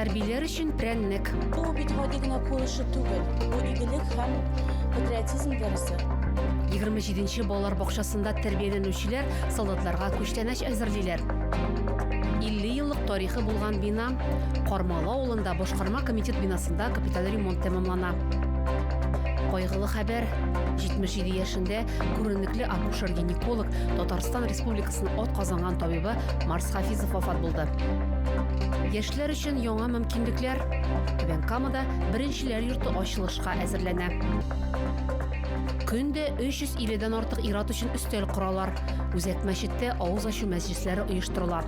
Хәрбиләр өчен прәннек. Бу бит гади генә куешу түгел. Бу игелек һәм патриотизм дәресе. 27-нче балалар бакчасында тәрбияләнүчеләр солдатларга күчтәнәч әзерлиләр. 50 еллык тарихы булган бина Кармалы авылында башкарма комитет бинасында капиталь ремонт тәмамлана. Кайгылы хәбәр, 77 яшендә Күренекле акушер-гинеколог, Татарстан Республикасының от казанган табибы Марс Хафизов вафат булды. Яшьләр өчен яңа мөмкинлекләр. Түбән Камада беренчеләр йорты ачылышка әзерләнә. Көндә 350 дән артык ират өчен өстәл коралар. Үзәк мәчеттә авыз ачу мәҗлесләре оештырыла.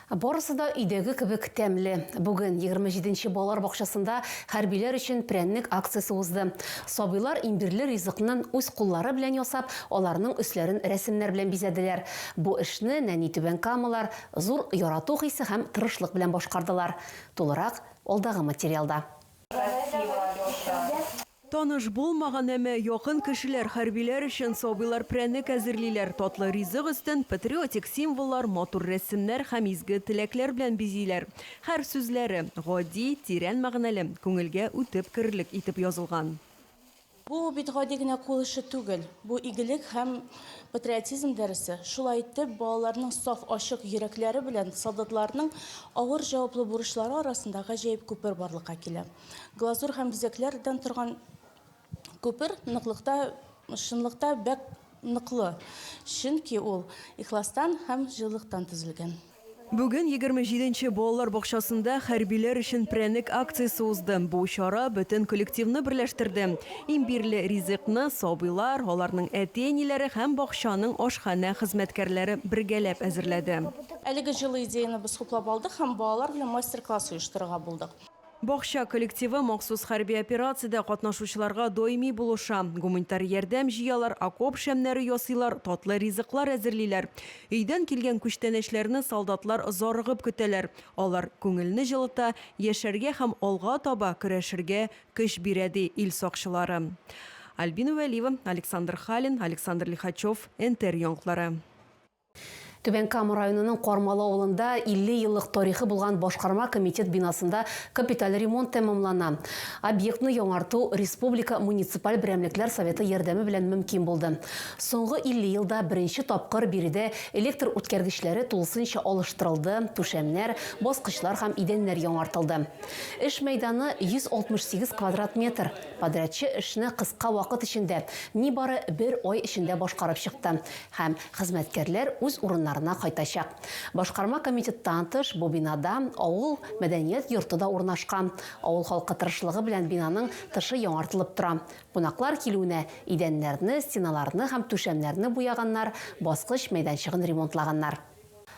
Барысы да өйдәге кебек тәмле. Бүген, егерме җиденче балалар бакчасында хәрбиләр өчен прәннек акциясе узды. Сабыйлар имбирле ризыкнын үз куллары белән ясап, аларның өсләрен рәсемнәр белән бизәделәр. Бу эшне нәни түбәнкамалар зур ярату хисе һәм тырышлык белән башкардылар. Тулырак алдагы материалда. Таныш булмаган, әмма якын кешеләр, хәрбиләр өчен сабыйлар прәннек әзерлиләр, татлы ризык өстен патриотик символлар, матур рәсемнәр һәм изге теләкләр белән бизиләр. Һәр сүзләре, гади, тирән мәгънәле, күңелгә үтеп керерлек итеп язылган. Бу бит гади генә кул эше түгел, бу игелек һәм патриотизм дәресе. Шулай итеп, балаларның саф, ачык йөрәкләре белән солдатларның авыр җаваплы бурычлары арасында гаҗәеп күпер барлыкка килә. Глазур һәм бизәкләр дән торган күпер ныклыкта, чынлыкта бәк ныклы, чөнки ул ихластан һәм җылылыктан төзелгән. Бүген егерме җиде нче балалар бакчасында Хәрбиләр өчен прәнек акциясе узды. Бу чара бөтен коллективны берләштерде. Имбирле ризыкны сабыйлар, аларның әти-әниләре һәм бакчаның ашханә хезмәткәрләре бергәләп әзерләде. Әлеге җылы идеяне без хуплап алдык һәм балалар белән мастер-класс оештырырга булдык. Бакча коллективы махсус хәрби операциядә катнашучыларга даими булыша, гуманитар ярдәм җыялар, окоп шәмнәре ясыйлар, татлы ризыклар әзерлиләр. Өйдән килгән күчтәнәчләрне солдатлар зарыгып көтәләр. Алар күңелне җылыта, яшәргә һәм алга таба көрәшергә көч бирә, ди ил сакчылары. Альбина Вәлиева, Александр Халин, Александр Лихачев, НТР яңклары. Түбән Кама районының Кармалы авылында 50 еллык тарихы булган башкарма комитет бинасында капиталь ремонт тәмамлана. Объектны яңарту республика муниципаль берәмлекләр советы ярдәме белән мөмкин булды. Соңгы 50 елда беренче тапкыр биредә электр үткәргечләре тулысынча алыштырылды, түшәмнәр, баскычлар һәм идәннәр яңартылды. Эш мәйданы, 168 квадрат метр. Подрядчы эшне кыска вакыт эчендә, нибары бер ай эчендә башкарып чыкты. һәм хезмәткәрләр үз урыннарына кайтачак. Башкарма комитеттан тыш, бу бинада авыл мәдәният йорты да урнашкан. Авыл халкы тырышлыгы белән бинаның тышы яңартылып тора. Кунаклар килүенә идәннәрне, стеналарны һәм түшәмнәрне буяганнар, баскыч мәйданчыгын ремонтлаганнар.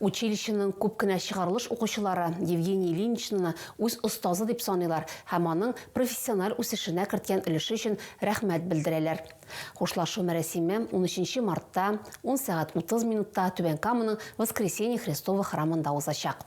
Училищеның күп кенә чыгарылыш укучылары Евгений Ильиничнны үз остазы дип саныйлар һәм аның профессиональ үсешенә керткән өлеше өчен рәхмәт белдерәләр. Хушлашу мәрәсиме унөченче мартта, ун сәгать утыз минутта Түбән Каманың Воскресение Христово храмында узачак.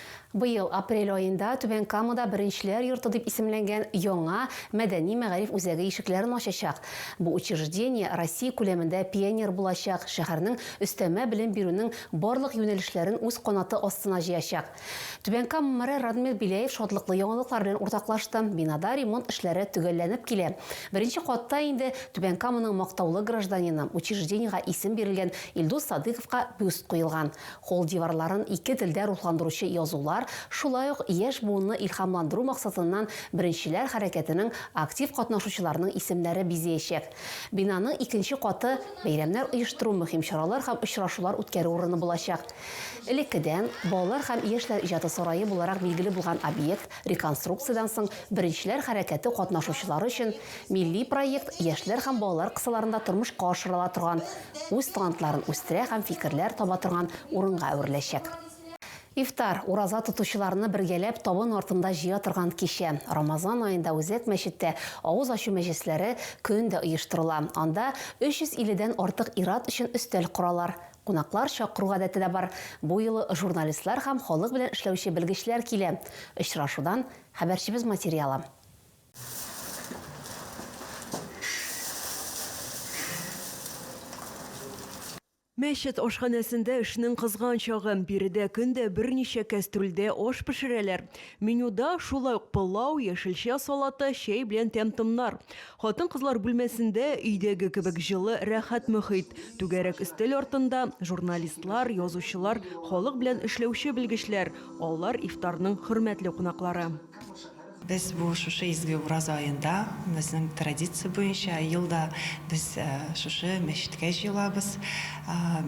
Быел апрель аенда Түбән Камада Беренчеләр йорты дип исемләнгән яңа мәдәни-мәгариф үзәге ишекләрен ачачак. Бу учреждение Россия күләмендә пионер булачак, шәһәрнең өстәмә белем бирүнең барлык юнәлешләрен үз канаты астына җыячак. Түбән Кама мэры Радмир Беляев шатлыклы яңалыклар белән уртаклашты. Бинада ремонт эшләре төгәлләнеп килә. Беренче катта инде Түбән Каманың мактаулы гражданины, учреждениегә исем бирелгән Илдус Садыйковка бюст куелган. Холл диварларын ике телдә рухландыручы язулар шулай ук яшь буынны илһамландыру максатыннан Беренчеләр хәрәкәтенең актив катнашучыларының исемнәре бизәячәк. Бинаның икенче каты бәйрәмнәр оештыру, мөһим чаралар һәм очрашулар үткәрү урыны булачак. Элеккедән Балалар һәм яшьләр иҗаты сарае буларак билгеле булган объект реконструкциядән соң Беренчеләр хәрәкәте катнашучылары өчен Милли проект яшьләр һәм балалар кысаларында тормышка ашырыла торган, үз талантларын үстерә һәм фикерләр таба торган урынга әвереләчәк. Ифтар, ураза тотучыларны бергәләп табын артында җыя торган кичә. Рамазан аенда Үзәк мәчеттә авыз ачу мәҗлесләре көн дә оештырыла. Анда 350 дән артык ир-ат өчен өстәл коралар. Кунаклар чакыру гадәте дә бар. Бу юлы журналистлар һәм халык белән эшләүче белгечләр килә. Очрашудан хәбәрчебез материалы. Мәчет ашханәсендә эшнең кызган чагы. Биредә көн дә берничә кәстрүлдә аш пешерәләр. Менюда, шулай ук пылау, яшелчә салаты, чәй белән тәм-томнар. Хатын-кызлар бүлмәсендә, өйдәге кебек җылы, рәхәт мөхит. Түгәрәк өстәл артында, журналистлар, язучылар, халык белән эшләүче белгечләр. Алар ифтарның хөрмәтле кунаклары. Без бу шушы изге Ураза аенда, безнең традиция буенча, елда без шушы мәчеткә җыелабыз.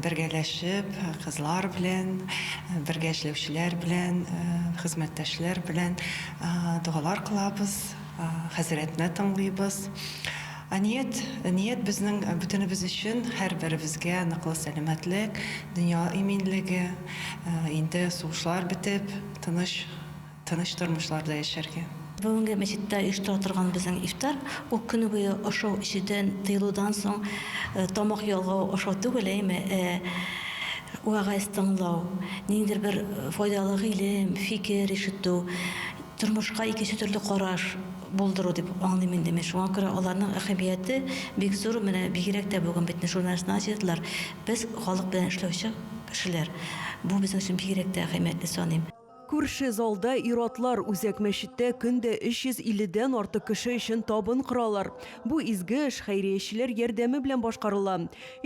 Бергәләшеп, кызлар белән, бергә эшләүчеләр белән, хезмәттәшләр белән догалар кылабыз, хәзрәтне тыңлыйбыз. Ният, ният безнең бөтенебез өчен, һәрберебезгә ныклы сәламәтлек, дөнья иминлеге, инде сугышлар бетеп, тыныч. Тыныч тормышларда яшәргә. Бүгенге мәчеттә оештыра торган безнең ифтар, ул көне буе ашау-эчүдән тыелудан соң тамак ялгау, ашау түгел, әйеме, ә вәгазь тыңлау, ниндидер бер файдалы гыйлем, фикер ишетү, тормышка икенче төрле караш булдыру дип аңлыйм инде мин. Шуңа күрә аларның әһәмияте бик зур, менә бигрәк тә бүген бит журналистларны җыйдылар. Без, халык белән эшләүче кешеләр, бу безнең өчен бигрәк тә әһәмиятле саныйм. Күрше залда ир-атлар үзәк мәчеттә көн дә 350 дән артык кеше өчен табын коралар. Бу изге эш хәйриячеләр ярдәме белән башкарыла.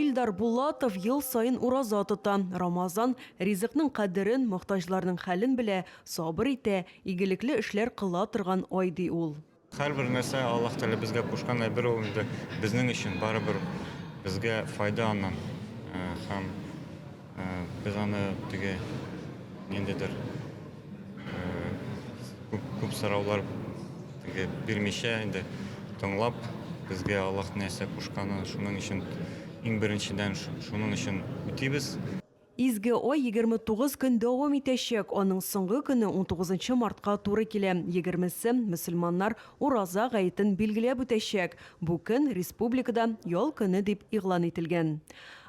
Илдар Булатов ел саен ураза тота, Рамазан, ризыкның кадерен, мохтаҗларның хәлен белә, сабыр итә, игелекле эшләр кыла торган ай, ди ул. Һәрбер нәрсә Аллаһ Тәгалә безгә кушкан әйбер ул инде безнең өчен барыбер безгә файда аннан. Э, һәм э, без аны теге ниндидер э, күп, күп сораулар теге бирмичә инде тыңлап безгә Аллаһ нәрсә кушканын шуның өчен иң беренчедән шуның өчен үтибез. Изге ай егерме тугыз көн дәвам итәчәк, аның соңгы көне унтугызынчы мартка туры килә, егермесе, мөселманнар Ураза гаетен билгеләп үтәчәк. Бу көн республикада ял көне дип игълан ителгән.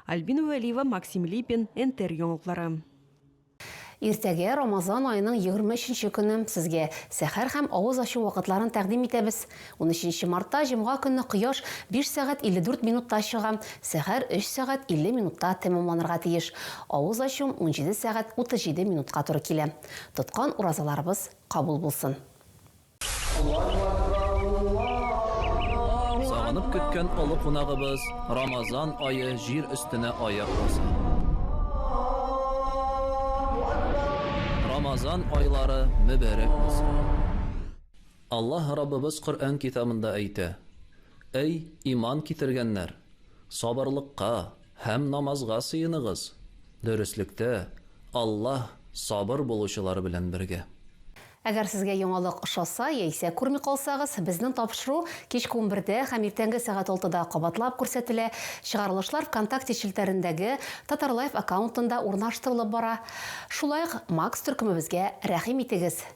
Альбина Вәлиева, Максим Липин, НТР яңалыклары. Иртәгә, Рамазан аеның егерме өченче көне, сезгә сәхәр һәм авыз ачу вакытларын тәкъдим итәбез. Унөченче мартта җомга көнне кояш 5 сәгать 54 минутта чыга, сәхәр 3 сәгать 50 минутта тәмамланырга тиеш. Авыз ачуым унҗиде сәгать 37 минутка туры килә. Тоткан уразаларыбыз кабул булсын. Сагынып көткән олы кунагыбыз Рамазан ае җир өстенә аяк басты. Рамазан айлары мөбәрәк булсын. Аллаһ Раббыбыз Коръән китабында әйтә, Әй, иман китергәннәр, сабырлыкка һәм намазга сыеныгыз, дөреслектә Аллаһ сабыр булучылар белән бергә. Әгәр сезгә яңалык ошаса яисә күрми калсагыз, безнең тапшыру кичке унбердә һәм иртәнге сәгать алтыда кабатлап күрсәтелә, чыгарылышлар Вконтакте челтәрендәге Татарлайф аккаунтында урнаштырылып бара. Шулай ук Макс төркемебезгә рәхим итегез!